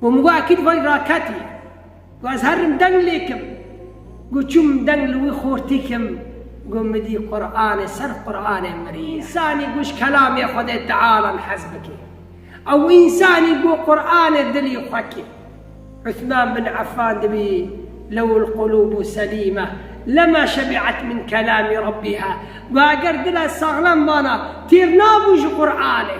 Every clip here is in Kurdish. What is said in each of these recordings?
Û min got ekîd vay raketî. Got ez herim deng lê kim. Got çûm deng li wî xortî kim. Got min dî Quranê ser Quranê mirî ye. Însanî got ji kelamê Xwedê tealan hez bike. Ew însanî got Quranê dilî xwe kir. Uthman bin Affan dibî lewul qulûbu selîme lema şebi'et min kelamî Rabbîha. Got eger dila saxlem vana têr nabû ji Quranê.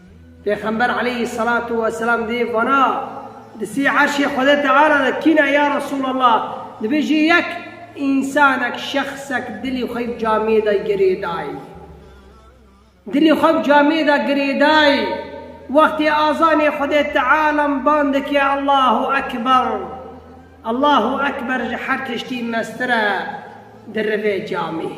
Pêxember aleyhî selatu we selam dê vana, di sî erşê Xwedê Teala de kî ne ya Resûlallah? Dibêjî yek însanek, şexsek dilê xwe bi camiyê de girêdayî. Dilê xwe bi camiyê de girêdayî. Wextê azanê Xwedê Tealam ban dike Allahu Ekber. Allahu Ekber ji her tiştî mestir e di rivê camiyê.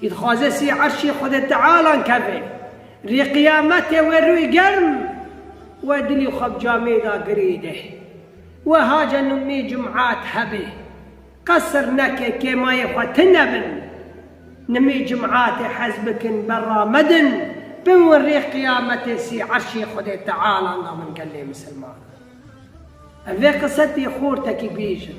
Kî dixwaze sî erşê Xwedê Teala keve, rê qiyametê wê rûyê germ we dilê xwe bi camê da girê de. Weha cenûmnê cum'at hebe. Qesr neke kê mayê xwe tine bin. Nimê cum'atê hez bikin berra medin, biwin rê qiyametê sî erşê Xwedê Teala da min gelê misilmanan. Ev vê qisetê xortekî bêjin.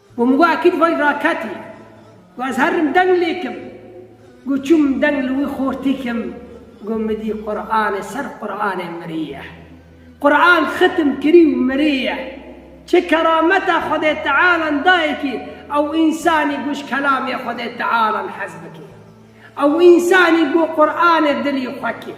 Got min got ekîd vay raketî. Got ez herim deng lêkim. Got çûm min deng li wî xortî kim. Got min dî Quranê ser Quranê mirî ye. Quran xitim kirî û mirî ye. Çi kerameta Xwedê Tealan dayê kî ew însanî got ji kelamê Xwedê Tealan hez bike. Ew însanî got Quranê dilî xwe kir.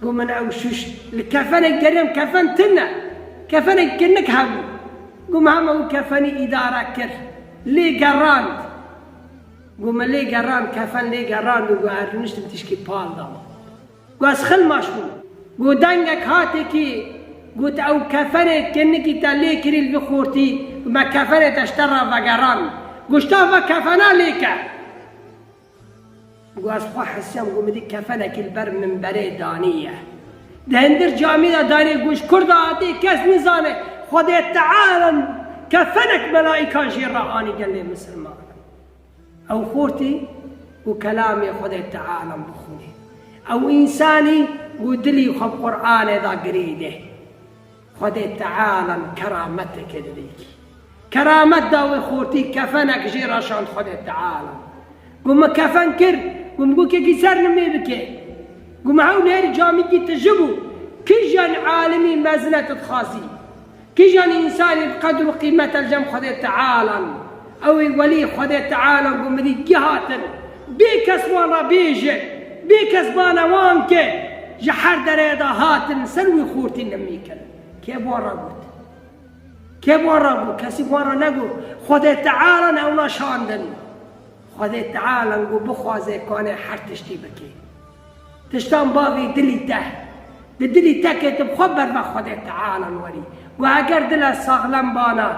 Ku min ew şûş li kefenek geriyam kefen tune. Kefenek kinik hebû. Ku min hema wî kefenî îdare kir. Lê gerand. Ku min lê gerand kefen lê gerand û ku ez rûniştim tişkî pal da min. Ku ez xilmaş bûm. Ku dengek hatê kî got ew kefenê kinikî te lê kirî li vî xortî ku me kefenê te ji te re vegerand. Ku ji ta ve kefena lê ke. Ku ez xwe hesiyam ku min dî kefenekî li ber minberê danî ye. Di hindir camî de danî goş kur de hatî kes nizane Xwedê Teala kefenek melaîkan jê re anî gelê misilmanan. Ew xortî ku kelamê Xwedê Teala bixwînê. Ew însanî ku dilî xwe bi Quranê de girî dê. Xwedê Teala min kerameteke li wê kî. Keramet da wê xortî kefenek jê re şand Xwedê Teala. Got min kefen kir, got min gokekî ser li me bike. Got min hewlêrî camî dît tije bû. Kijan alimî mezine tu dixwazî? Kijan însanî bi qedr û qîmete li cem Xwedê Teala in? Ew ê welî Xwedê Teala ku mirî gihatin, bê kes wan re bêje, bê kes bane wan ke ji her dereyê de hatin ser wî xûrtî nimî kirin. Kê bi wan re got? Kê bi wan re got? Kesî bi wan re negot. Xwedê Teala ne ewna şandin. Xwedê Teala ku bixwaze kanê her tiştî bike. Tiştan bavê dilî te. Di dilî te ke tu bi xwe berbe Xwedê Tealan werî. Guh eger dile saxlem bana,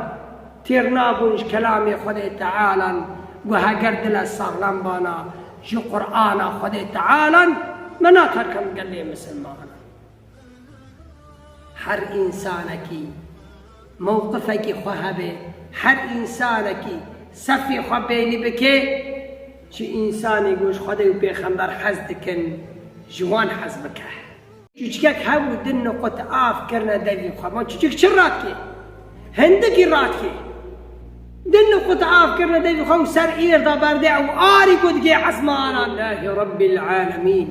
têr nabûn ji kelamê Xwedê Tealan, guh eger dile saxlem bana, ji Qur'ana Xwedê Tealan, me naterkend gelê misilmanan. Her însanekî mewqifekî xwe hebe, her însanekî sefê xwe bênî bike, çi însanî ku ji Xwedê û Pêxember hez dikin ji wan hez bike. Çûçikek hebû din nuqut av kirine devî xwe. Ma çûçik çi radikê? Hindikî radikê. Din nuqut av kirine devî xwe û ser êrda berdê ew arî ku digê ezmana Lehî Rebbîl Alemîn.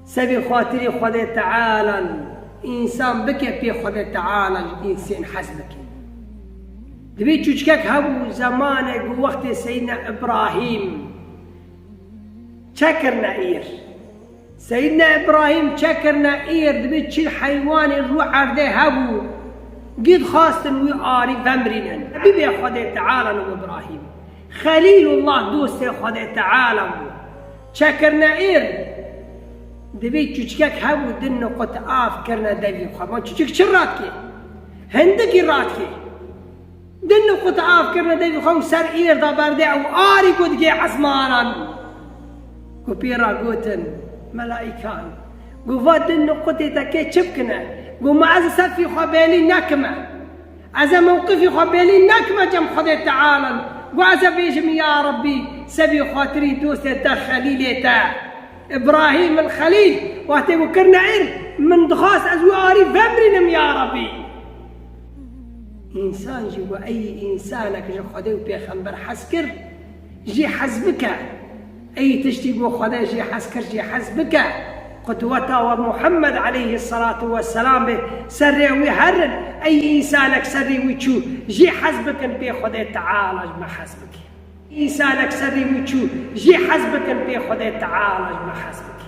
Se vê xatirê Xwedê Teala lû însan bike pê Xwedê Teala ji însên hez bike. Di vê çûçkek hebû zemanek û wextê Seyîdna Îbrahîm çekirine îr. Seyîdna Îbrahîm çekirine îr di vê çil heywanê rû erdê hebû gî dixwastin wî arî vemrînin. Bibê Xwedê Teala lû Îbrahîm. Xelîlullah dostê Xwedê Teala bû. Çekirine êr divê çûçikek hebû din nuqut av kirine devî xwe. Ma çûçik çi rat kê? Hindikî rat kê. Din nuqut av kirine devî xwe û ser êr da berdê ew arî ku digê esmanan. Ku pê ra gotin melaîkan. Ku va din nuqutê te kê çi bikine? Ku ma ez li ser fî xwe bêlî nekime. Ez ê mewqifê xwe bêlîn nekime cem Xwedê Teala'l û ez ê bêjim ya Rabbî se bî xatirî dostê te Xelîlê te Îbrahîm el Xelîl wextê ku kirine ir min dixwast ez wî arî vemirînim ya Rabbî însan jî we eyî însanek ji Xwedê û pêxember hez kir jî hez bike. Ey tiştî bo Xwedê jî hez kir jî hez bike, qudweta we Muhemmed eleyhi selatû we selam bê ser rê wî her in, ey însanek ser rî wî çû jî hez bikin pê Xwedê teala ji me hez bike. Însanek ser rî wî çû jî hez bikin pê Xwedê teala ji me hez bike.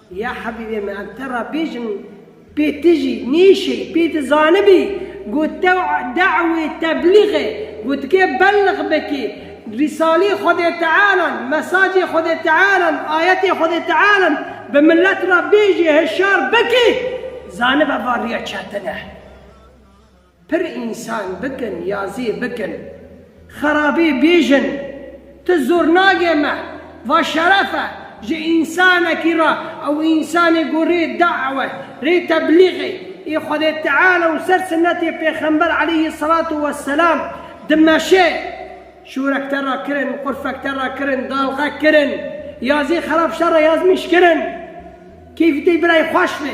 Ya hebîbê me em te re bêjin pê ti jî nêşey pê ti zanibî ku tew dewê teblîxê ku dike belix bikî rîsaleyê Xwedê Tealan, mesacê Xwedê Tealan, ayetê Xwedê Tealan bi milet re bêjî hişyar bikî zanibe va rîya çetin e. Pir însan bikin ya zê bikin. Xerabê bêjin. Tu zornagê me. Va şeref e ji însanekî re ew însanê ku rê dawet, rê teblîxê ê Xwedê Teala û ser sinetê Pêxember aleyhî selatû weselam dimeşe. Şûrek te re kirin, qurfek te re kirin, dalxek kirin, ya zê xerab şer re yazmîş kirin. Keyfê te birayê xweş be.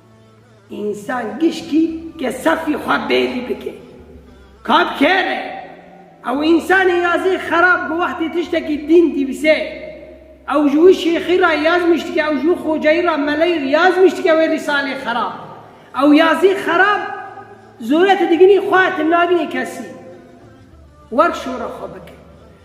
Însan gişkî ke safî xwe bêrî bike. Kap kêr e. Ew însanê ya zê xerab ku wextê tiştekî dîn dîvise, ew ji wî şêxî ra yaz miştike, ew ji wî xocayî ra meleyî yaz miştike wê rîsalê xerab. Ew ya zê xerab zore ti diginî xwe ti nagînî kesî. Werk şore xwe bike.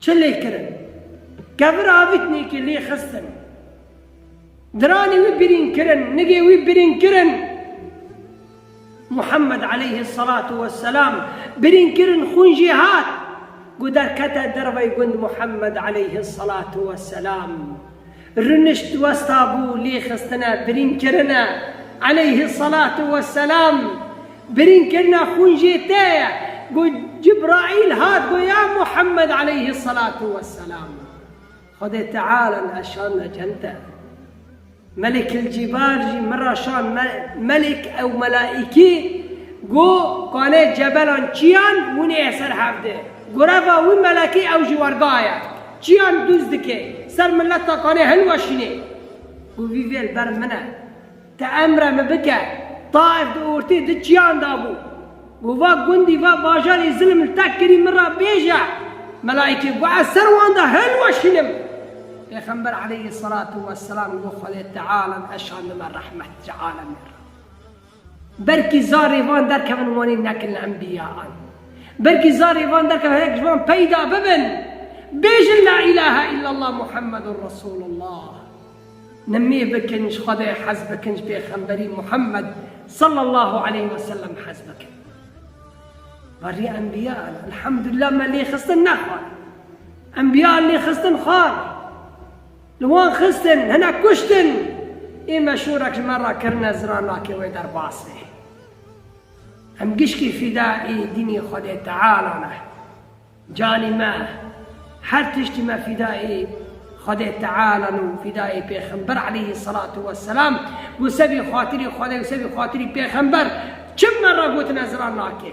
Çi lê kirin? Kevir avitnêkê lê xistin. Diranê wî birîn kirin, nigê wî birîn kirin. Muhammed aleyhi salatu ve selam birîn kirin xwîn jê hat. Gu derkete dervey gund Muhammed aleyhi salatu ve selam. Rûnişt westa bû lêxistine birînkirine eleyhi selatu we selam. Birînkirina xwîn jê te ye ku Cibraîl hat got ya Muhammed eleyhi selatu we selam Xwedê Teala me şand me cem te. Melikil Cîbal jî min ra şand me melik ew melaîkî got kanê cebelan çiyan hûnê ye ser hevdê. Goreva wî melekî ew ji werga ye. Çiyan duz dike ser mileta kanê hilweşînê. Ku vî vê li ber min e. Ti emre min bike. Taif di ortê di çiyan de bû. Ku va gundî va bajarê zilim li te kirî min re bêje. Melaîkê got ez ser wan de hilweşînim. Pêxember eleyhî selatû weselam got Xwedê Teala em eşandime rehmet ji alemên re. Belkî zarê van derkevin wanê nekin li enbîyayan. Belkî zarê van derkevin hinek ji wan peyda bibin, bêjin La îlahe îllallah Muhammedun Resûlullah. Nimê bikin, ji Xwedayê hez bikin, ji Pêxemberî Muhammed sallallahu aleyh ve sellem hez bikin. Barî enbîyayan elhamdulillah me lêxistin nexwar. Enbîyayan lêxistin xwar. Li wan xistin, hinek kuştin. Ê meşûrek ji me re kirine ziran nake wê derbas be. Em gişkî fîda ê dînê Xwedê Teala ne. Canî me, her tiştî me fîda ê Xwedê Teala ne û fîda ê Pêxember aleyhî selatû weselam û se bî xatirî Xwedê û se bî xatirî Pêxember çi me re gotine ziran nake.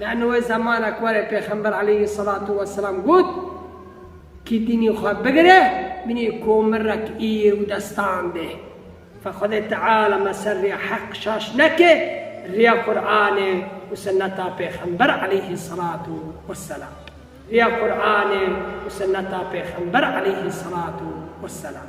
Lano wê zemana ku warê Pêxember aleyhî selatû weselam got, Kî dînê xwe bigire, binê komirek îr û destan de. Fa Xwedê Teala me ser rêya heq şaş neke, rêya Quranê û sinneta Pêxember aleyhî selatû weselam. Rêya Quranê û sinneta Pêxember aleyhî selatû weselam.